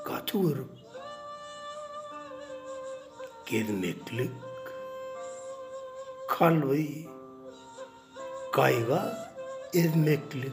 Gaty görüp gezmeklik kalby gaýga ezmeklik.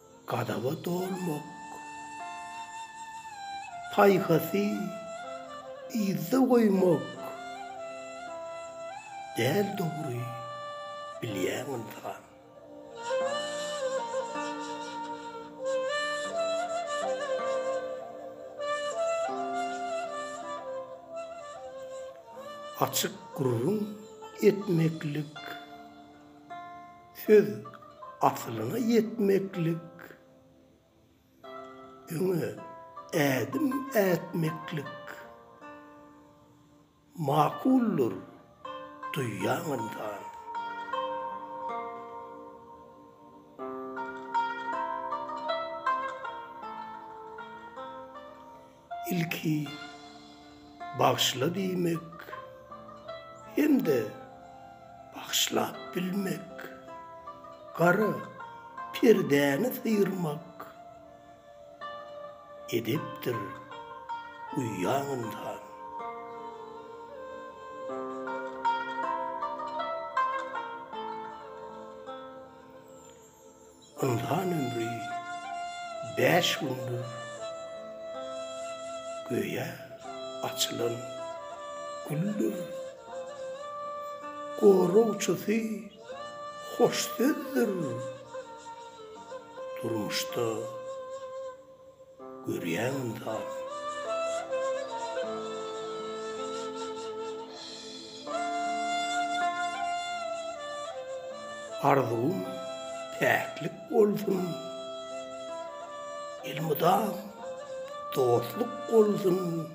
Gazaba dolmak paýhasy yzda goýmak däl dogry bilýäň ynsan. Açyk gürrüň etmeklik. Söz asylyňa ýetmeklik, öňe ädim ätmeklik makuldyr duýýan ynsan. Ilki bagyşla diýmek hem-de bagyşlap bilmek, gara perdäni syýrmak edepdir uýýaň ynsan. Ynsan ömri bäş gündür göýä açylan güldir. Goragçysy hoş sözdür durmuşda. Görýäňmi saz. Arzuwym päklik bolsun. Elmydam dostluk bolsun.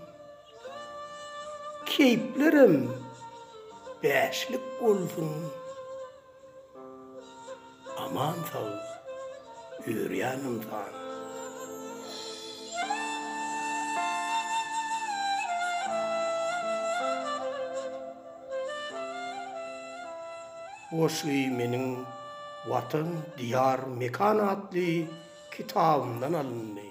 Keýplerem bäşlik bolsun. Aman sag ýörýän ynsan. Goşgy meniň Watan, Diýar, Mekan atly kitabymdan alyndy.